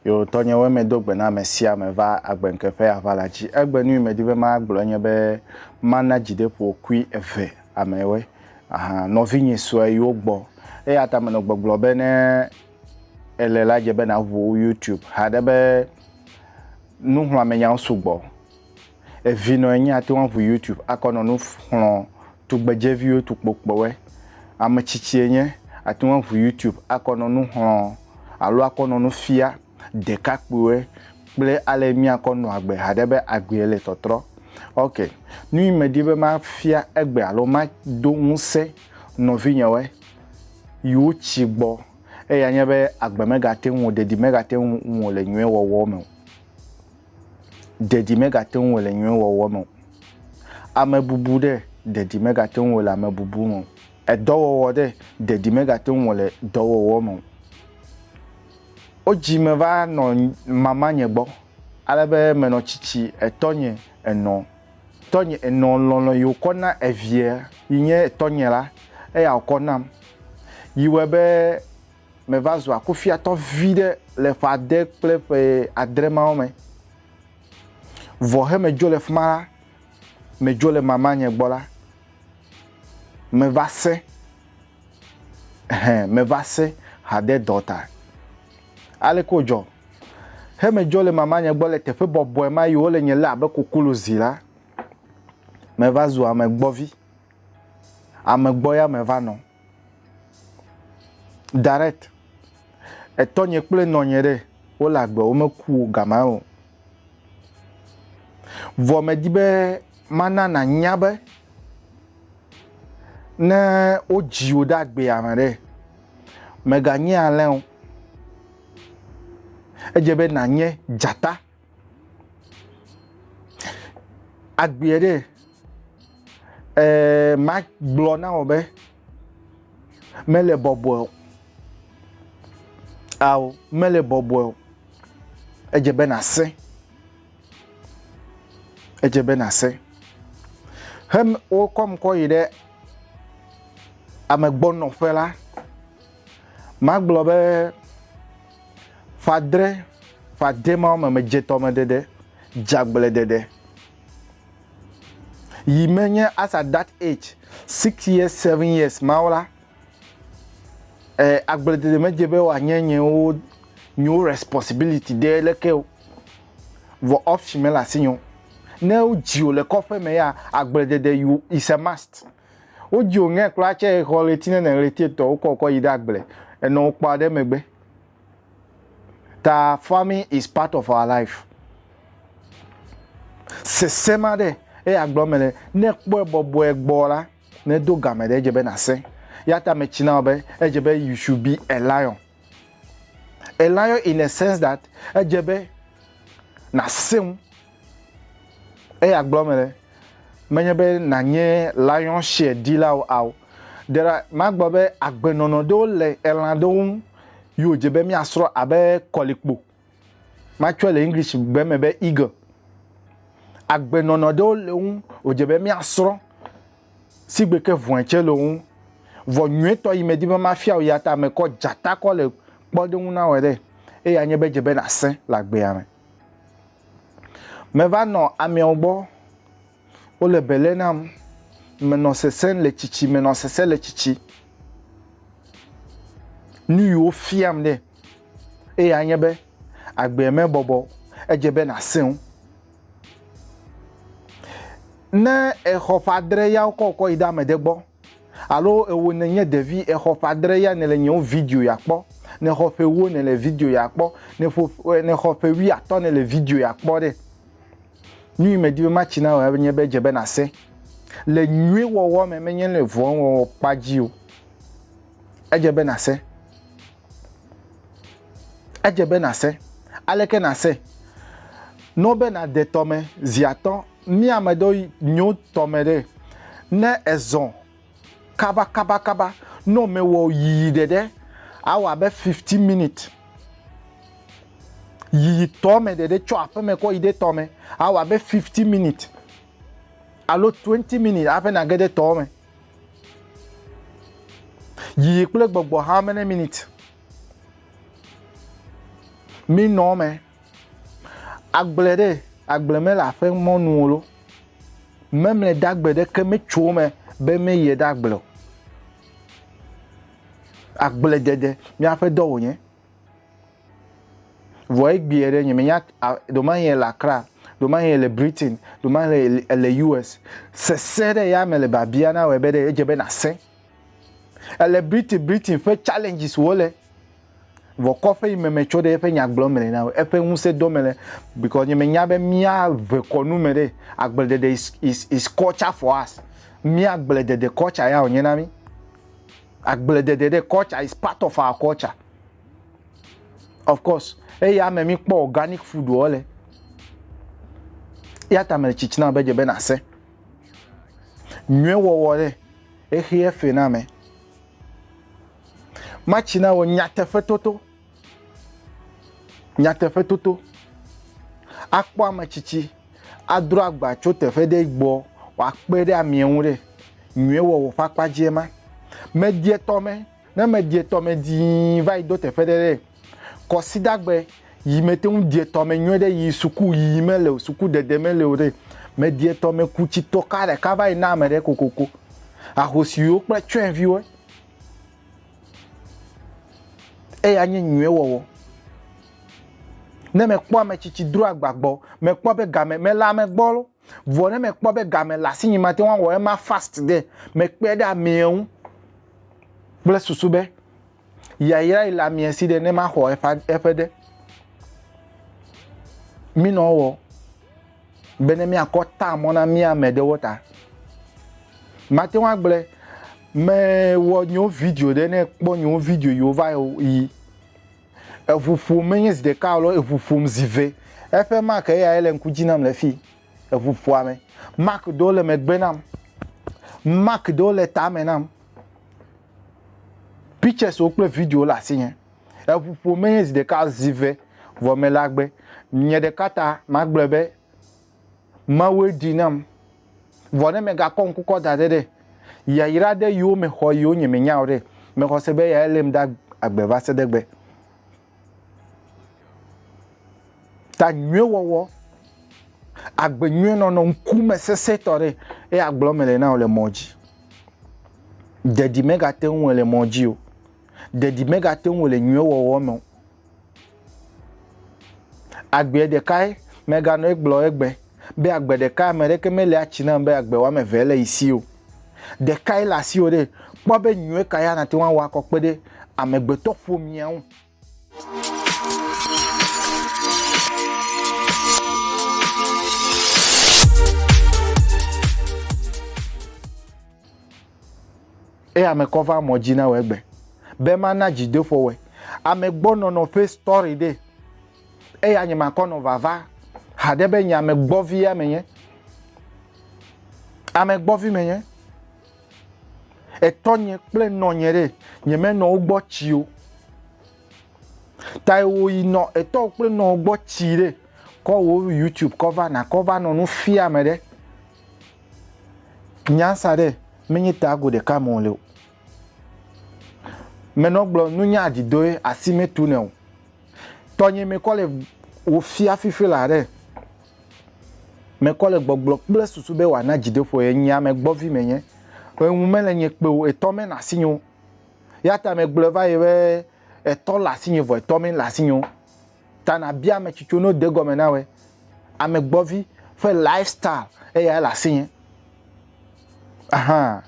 Yo tɔnyewoe medo gbe na ame sia ame va agbenke ƒe aʋala dzi. Egbe nui medi be magblɔ enye be mana dzideƒokui eve amewe. Aha, nɔvinye sue yiwo gbɔ. Eya ta menɔ gbɔgblɔ be ne ele la dze be naʋu YouTube haɖe be nuxlɔamenyawo sugbɔ. Evinɔ enyi ate ŋu aŋu YouTube akɔ nɔ nu xlɔ tugbedzeviwo tukpokpɔwɛ. Ame tsitsi enye ate ŋu aŋu YouTube akɔ nɔ nu xlɔ alo akɔ nɔ nu fia ɖekakpuiwɔɛ kple ale míakɔ nɔ agbe haɖe be agbee le tɔtrɔ. Ok, nu yi medi be mafia egbe alo mado ŋusẽ nɔvinyewɔɛ yi wotsi gbɔ eya nye be agbe megate ŋu o, ɖeɖi megate ŋu o le nyuiwɔwɔ me o. ɖeɖi megate ŋu wòle nyuie wɔwɔ me o. Amebubu ɖe, ɖeɖi megate ŋu wòle amebubu me o. Edɔwɔwɔ ɖe, ɖeɖi megate ŋu wòle dɔwɔwɔ me o. Wodzi meva nɔ mamanye gbɔ ale be menɔ tsitsi etɔnye enɔ. Tɔnye enɔ lɔlɔ̃ yi wòkɔ na eviɛ yi nye etɔnye la, eya wòkɔ nam yi wɔe be meva zua kufiatɔ vi ɖe le ƒe ade kple ƒe adre mawo me. Vɔ he medzo le fi ma la, medzo le mama nye gbɔ la, meva se, hẽ, meva se hade dɔ ta. Ale ko dzɔ. He medzo le mama nye gbɔ le teƒe bɔbɔe ma yi wole nye lé abe kukulu zi la, meva zu ame gbɔ vi. Ame gbɔ ya meva nɔ. Direct. Etɔnye kple nɔnye ɖe, wole agbe, womeku o gama o. Vɔ medi be mana nànya be ne wodzi wò ɖe agbea me ɖe, mèganye alẽ o. Edze be nànye dzata. Agbeɛ ɖe, eh, ma gblɔ na wò be mele bɔbɔe o. Ao, mele bɔbɔe o. Edze be nàsẽ. Edze be nàsẽ. He wokɔm kɔ yi ɖe amegbɔnɔƒe la, magblɔ be Fadre, fadre ma wɔme me dzetɔ me ɖeɖe, dzagble ɖeɖe. Yi me nye as at that age, six years, seven years ma la, eh, agble ɖeɖe me dze be wòanye nyewo, nyewo responsibility ɖe leke o. Vɔ option me le asinye o. Ne wodzi wò le kɔƒe me ya, agble ɖeɖe you, is a must. Wodzio ŋɛ kura tsɛ xɔ ɣleti nɛnɛ ɣleti etɔ wokɔ kɔ yi ɖe agble enɔ wokpɔa ɖe megbe. Ta farming is part of our life. Sese ma ɖe eya gblɔ me le ne kpɔe bɔbɔe gbɔ la ne do game ɖe edze be na se. Yata me tsi na wo be edze be you should be a lion. Elayɔ in a sense that edze be nàsẽ ŋu. Eya gblɔ me ɖe, menye be nànye lion share ɖilawo ao. There are, magblɔ be agbenɔnɔ ɖewo le elã ɖewo ŋu yi wòdze be míasrɔ̃ abe kɔlikpo. Matsɔe le English gbe me be eagle. Agbenɔnɔ ɖewo le wo ŋu wòdze be míasrɔ̃, si gbe ke vɔ̃e tsɛ le wo ŋu. Vɔ nyuietɔ yi medi be mafia wò ya ta ame kɔ dzata kɔ le kpɔɖeŋu na wòe ɖe, eye anye be edze be nàsẽ le agbea me. Meva nɔ ameawo gbɔ. wole bele nam, menɔ sesẽ le tsitsi, menɔ sesẽ le tsitsi. Nu yi wofiam ɖe eya nye be agbe mebɔbɔ, edze be nàsẽ wo. Ne exɔ ƒe adre ya wokɔ wokɔ yi ɖe ame ɖe gbɔ. Alo ewo nenye ɖevi exɔ ƒe adre ya nele nyewo video ya kpɔ, nexɔ ƒe ewo nele video ya kpɔ, neƒo nexɔ ƒe wui atɔ nele video ya kpɔ ɖe. Nyui me di be matsi na wò enye be edze be nase le nyui wɔwɔ me menye le vɔn wɔwɔ kpa dzi o. Edze be nase. Edze be nàsẽ. Aleke nàsẽ? No be nàde tɔme zi atɔ̃. Mía ame ɖewo yi nyo tɔme ɖe. Ne èzɔ kabakabakaba, nɔ mewɔ yiyi ɖeɖe, awɔ abe fiftin minit. Yiyi tɔme ɖeɖe tso aƒeme kɔ yi ɖe tɔme, awɔ abe fiftin minit alo twenti minit hafi nàge ɖe tɔme. Yiyi kple gbɔgbɔ how many minutes? Mi nɔ me. Agble ɖe agble me le aƒe mɔnu lo. Memle ɖe agble ɖe ke me tso me be me yɛ ɖe agble. Agble dede mi aƒe dɔ wonye. Vɔ egbeɛ ɖe nye menya ɖomahi ele Accra, ɖomahi ele Britain, ɖomahi ele US. Sese ɖe ya me le babia na wɔ be ɖe edze be nasẽ. Ele Britain Britain ƒe challenges wo le. Vɔ kɔƒe yi me metso ɖe eƒe nyagblɔ me le na wɔ eƒe ŋusẽ dɔ me le because nye menya be mía ʋe kɔnu me ɖe agbledede is is is culture for us. Mía agbledede culture ya wonye na mí. Agbledede ɖe culture is part of our culture. Of course, eya me mi kpɔ organic food wo le. Ya ta me tsitsina be dze be na se. Nyuie wɔwɔ ɖe exie fe na me. Matsina wo nyateƒe toto. Nyateƒe toto. Akpɔ ame tsitsi adro agba tso teƒe ɖe gbɔ wòakpe ɖe amea ŋu ɖe nyuie wɔwɔ ƒe akpa dzie ma. Medie tɔme, ne medie tɔme dii va yi do teƒe ɖe ɖe kɔsidagbe yi mete ŋu die tɔme nyuie ɖe yi suku yi mele o, suku dede mele o ɖe. Medie tɔme ku tsitɔ ka ɖeka va yi na ame ɖe kokoko. Ahosiwo kple tsyɔ̃eviwo. eya nye nyuie wɔwɔ. Ne mekpɔ ame tsitsi dro agba gbɔ, mekpɔ be game mele ame gbɔ lo, vɔ ne mekpɔ be game le asinye mate ŋu awɔ ema fast ɖe, mekpɔe ɖe amea ŋu kple susu be yayra yi le amea si ɖe ne maxɔ eƒe ɖe. Minɔ wɔ. be ne míakɔ ta mɔ na mía ame ɖewo ta. Mate ŋu agblẽ mewɔ nyewo video ɖe ne kpɔ nyewo video yiwo va yi. Eŋu ƒom menye zi ɖeka alo eŋu ƒom zi ve. Eƒe mark eya ye le ŋku dzi nam le fi. Eŋu ƒoa me. Mark ɖewo le megbe nam. Mark ɖewo le tame nam. Pictures wo kple video le asinye. Eŋu ƒo menye zi ɖeka zi ve vɔ mele agbe. Nye ɖeka ta magblɔe be Mawue ɖii nam. Vɔ ne megakɔ ŋku kɔ da ɖe ɖe yayra aɖe yiwo mexɔ yiwo nye menya o ɖe, mexɔ se be eyae lém ɖe agbe va se ɖe egbe. Ta nyuie wɔwɔ, agbe nyuie nɔnɔ, ŋkume sesẽ tɔ ɖe eya gblɔm mele na wò le mɔ dzi. Ɖeɖi megate ŋu wɔe le mɔ dzi o. ɖeɖi megate ŋu le nyuie wɔwɔ me o. Agbe ɖekae meganɔ egblɔ egbe be agbe ɖeka ame ɖeke mele atsi nam be agbe wɔme eve le yi si o. Ɖekae le asiwò ɖe kpɔ be nyuie ka ya nàte ŋu awɔ akɔ kpe ɖe amegbetɔ ƒomea ŋu. Eye ame kɔ va mɔ dzi na wɔ egbe. Be ma na dzi dofɔ wɔ. Ame gbɔ nɔ nɔ fe story de. Eye anye ma kɔ nɔ vava. Hade be nye ame gbɔ vi ya me nye. Ame gbɔ vi me nye. Etɔ nye kple nɔ nye de. Nye me nɔ ugbɔ tsi o. Ta ewo yi nɔ etɔ kple nɔ ugbɔ tsi de. Kɔ wo YouTube kɔ va na kɔ va nɔ nu fia me de. Nya sa ɖe menye tago ɖeka me wòle o. Menɔ gblɔ nunya dzidoe asi metu ne o. Tɔnye mekɔ le wòfia fifi la ɖe. Mekɔ le gbɔgblɔ kple susu be wòana dzidoƒo ye nye ame gbɔvi menye. Eŋu mele nye kpe o, etɔ menɔ asinye o. Ya ta megblɔ va ye be etɔ le asinye vɔ etɔ mele asinye o. Ta nàbia ame tsitso ne wode gɔme na wòe. Amegbɔvi ƒe lifestyle eyae le asinye. Aha.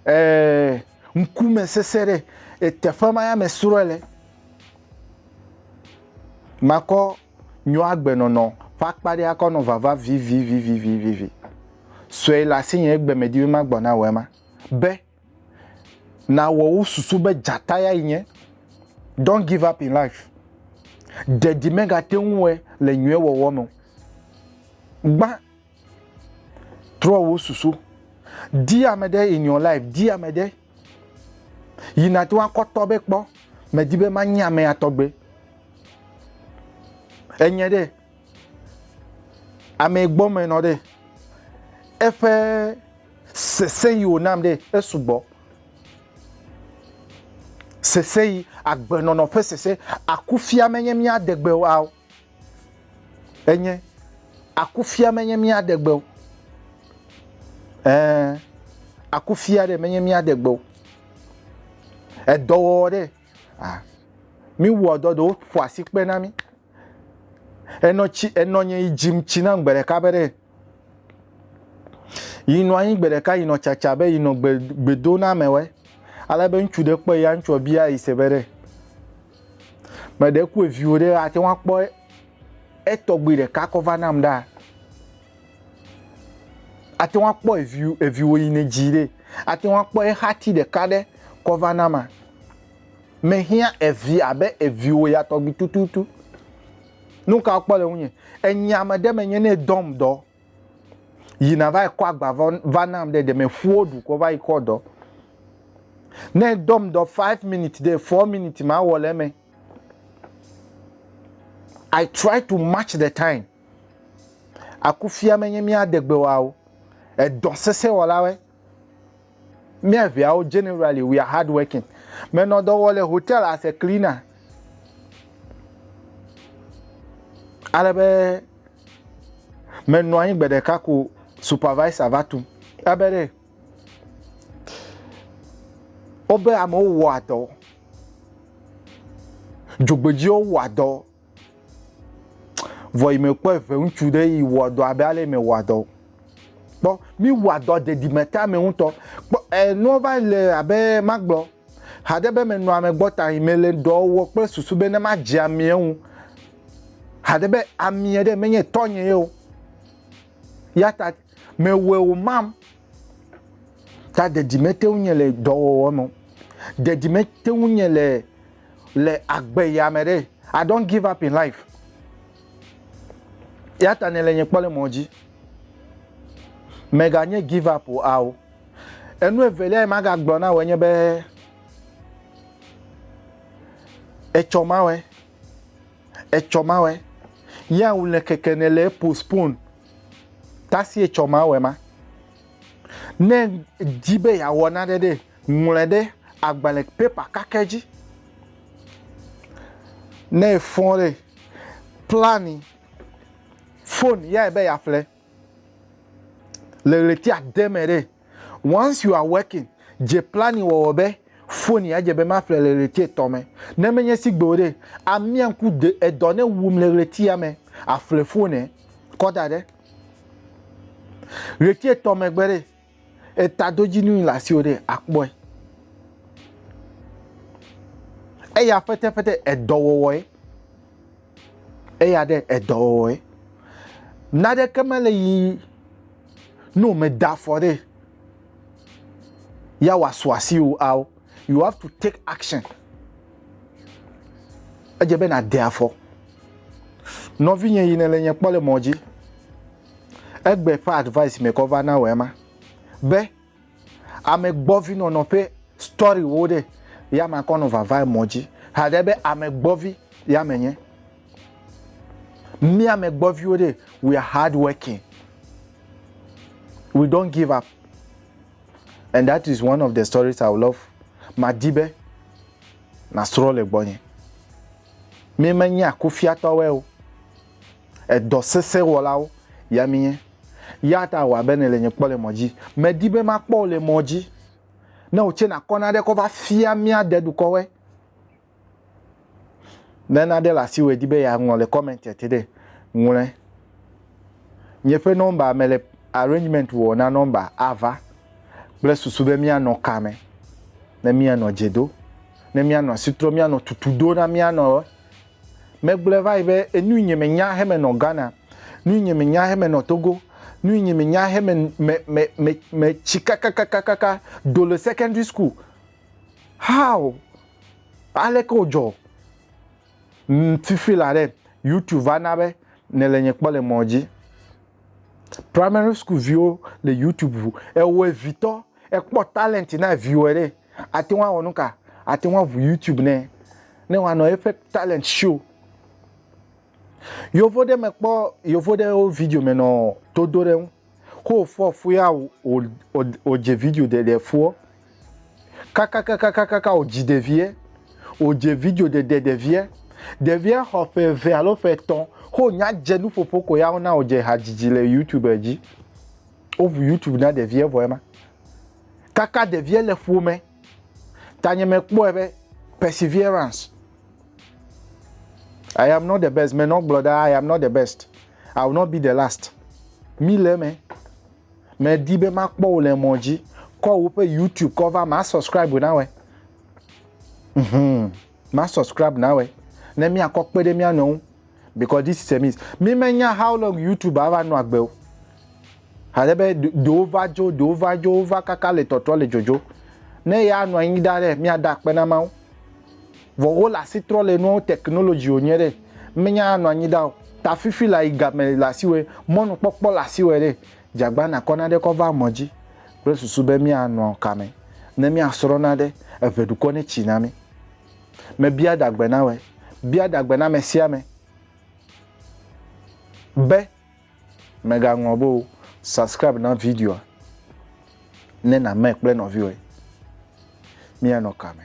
Ee, ŋkume sese ɖe eteƒe ma ya mesrɔ̃e le. Makɔ nyɔagbenɔnɔ ƒe akpa ɖe akɔ nɔ vava vivivivivivivi. Sue le asinye egbe medi be magbɔ na wò ema. Be Nàwɔ wo susu be dzata yae nye. Don't give up in life. Ɖe dzi megate ŋu wɔe le nyuie wɔwɔ me o. Gbã. Trɔ wò susu. Di ame ɖe in your life. Di ame ɖe yi nàte ŋu akɔ tɔ be kpɔ, medi be manye amea tɔgbe. Enye ɖe? Ame gbɔ me nɔ ɖe, eƒe sese yi wònam ɖe esugbɔ. Sese yi, agbenɔnɔ ƒe sese, akufia menye míade gbe o, enye akufia menye míade gbe o. Ɛɛ, akufia ɖe menye míade gbe o. Edɔwɔwɔ ɖe, ah, míwɔ dɔ ɖewo ƒo asikpe na mí. Enɔ tsi enɔ nye yi dzim tsi nam gbe ɖeka be ɖe yi nɔ anyi gbe ɖeka yi nɔ tsatsa be yi nɔ gbe gbedo na ame wɛ. Ale be ŋutsu ɖe kpɔ ya ŋutsua bia yi se be ɖe me ɖe ku eviwo ɖe ate ŋu akpɔ etɔgbi ɖeka kɔ va nam ɖa. Ate ŋu akpɔ evi eviwo yi ne dzi ɖe ate ŋu akpɔ exati ɖeka ɖe kɔ va nama. Mehiã evi abe eviwò ya tɔgbi tututu. Nu ka wokpɔ le ŋunye? Enye ame ɖe menye ne dɔm dɔ yi nava yi kɔ agba va nam ɖe ɖe meƒuwo ɖu kɔ va yi kɔ dɔ. Ne dɔm dɔ five minutes ɖe four minutes ma wɔ le eme. I try to match the time. Akufia menye mía degbewawo. Edɔ sesẽ wɔlawe. Mía viawo generally we are hard working. Menɔ dɔ wɔ le hotel as a cleaner. Ale be menɔ anyi gbe ɖeka ko supervisor va tu. Ebe ɖe wobe amewo wɔa dɔ. Dzogbedziwo wɔa dɔ Vɔ yi me kpɔ eve ŋutsu ɖe yi wɔ dɔ abe ale me wɔ dɔ. Kpɔ mi wɔ dɔ dedime ta me ŋutɔ. Kpɔ enua va le abe magblɔ haɖe be menɔ ame gbɔ ta yi me le dɔ wɔ kple susu be ne ma dze amia ŋu. Haɖe be amia ɖe menye tɔnye ye o. Ya ta me wɔ o mam. Ta didi mete ŋu nye le dɔwɔwɔ me. Didi mete ŋu nye le le agbe ya me ɖe. I don't give up in life. Ya ta ne le nye kpɔ le mɔ dzi. Mega nye give up o ao. Enu evelia yi maga gblɔ na wɔ nye be etsɔ mawɛ. Etsɔ mawɛ. Ya wule keke ne le postpone. Ta si etsɔ ma wɔe ma. Ne di be yeawɔ nane ɖe, ŋlɔe ɖe agbalẽ pepa kakɛ dzi. Ne efɔ ɖe, plani fon yae be yeaƒle le ɣleti ade me ɖe. Once you are working, dze planning wɔwɔ be foni adze be maƒle le ɣleti etɔ̃ me. Ne menye sigbe o ɖe, amia ŋku de edɔ ne wum le ɣletia me aƒle fone kɔ da ɖe. Ɣleti etɔ̃ megbe ɖe, etadodzinui le asiwò ɖe akpɔe. Eya ƒeteƒete edɔwɔwɔe. Eya ɖe edɔwɔwɔe. Naɖeke mele yi ne wòmeda afɔ ɖe ya wòasu asi o ao you have to take action edze be nàde afɔ nɔvinye yi ne le nye kpɔ le mɔ dzi egbe ƒe advice me kɔ va na wɔ ema be Ame gbɔvi nɔnɔ ƒe story wo ɖe ya ma kɔ nɔ vava emɔ dzi haɖe be ame gbɔvi ya me nye. Mi ame gbɔviwo ɖe we are hard working. We don't give up. And that is one of the stories I would love. Ma di be na srɔ le gbɔ nye. Mi me nya kufiatɔwe o. Edɔ sesẽ wɔlawo ya mienye. Ya ta wɔ abe nèle nye kpɔ le mɔ dzi. Medi be makpɔ wò le mɔ dzi. Ne wòtse nakɔ naɖe kɔ va fia mía dedukɔwoe. Ne naɖe le asiwò èdi be yeaŋlɔ le comment ya te ɖe, ŋlɔe. Nye ƒe nɔmba, mele arrangement wɔ na nɔmba ava kple susu be míanɔ ka me, ne míanɔ dze do, ne míanɔ asi trɔm, míanɔ tutu do na míanɔ. Megblɔe va yi be, Enu yi nye me nya heme nɔ Ghana, nu yi nye me nya heme nɔ Togo, nu yi nye me nya heme me, me, me, me tsi kakakakakaka do le secondary school. How? Aleke o dzɔ? Ŋ fifi la ɖe, YouTube va na be ne le nye kpɔ le mɔ dzi. Primary school viwo le YouTube ŋu. Ewɔe vitɔ. Ekpɔ talent na viwɔe ɖe, ate ŋu awɔ nuka? Ate ŋu aʋu YouTube nɛ ne wòanɔ eƒe talent show. Yovo ɖe mekpɔ yovo ɖe wo video me nɔ to do ɖe ŋu. Ko wòfɔ fu ya wòdze video ɖeɖe fuɔ. Kakakakakaka wòdzi ɖeviɛ. Wòdze video ɖeɖe ɖeviɛ. Ɖeviɛ xɔ ƒe eve alo ƒe etɔ̃. Ko wònya dze nuƒoƒo ko ya wona wòdze hadzidzi le YouTube dzi. woʋu youtube na ɖevia vɔ ema kaka ɖevia le ƒome tanye mekpɔe be perseverance i am not the best menɔ gblɔ ɖa i am not the best i will not be the last mi le me medi be makpɔ wò le mɔ dzi kɔ woƒe youtube kɔ va ma subscribe na wɛ mm -hmm. ma subscribe na wɛ ne mia kɔ kpe ɖe mia nɔ ŋu because this is a miss mi me nya how long youtube ava nɔ agbe o ale be do va dzo do va dzo va kaka le tɔtrɔ le dzodzo ne ya nɔ anyi da ɖe mia da kpe na ma ŋu vɔ wo le asi trɔ le nuwo technology o nye ɖe mi nya nɔ anyi da o ta fifi la yi game le asi wɛ mɔnu kpɔkpɔ le asi wɛ ɖe jagba na kɔ na ɖe kɔ va mɔ dzi kple susu be mia nɔ kame ne mia srɔna ɖe eʋe dukɔ ne tsi na mi Mebia ɖagbenawe, bia ɖagbe na ame sia ame be mègaŋlɔ be o, subscribe na videoa ne nàme kple nɔviwòe. Míanɔ ka me?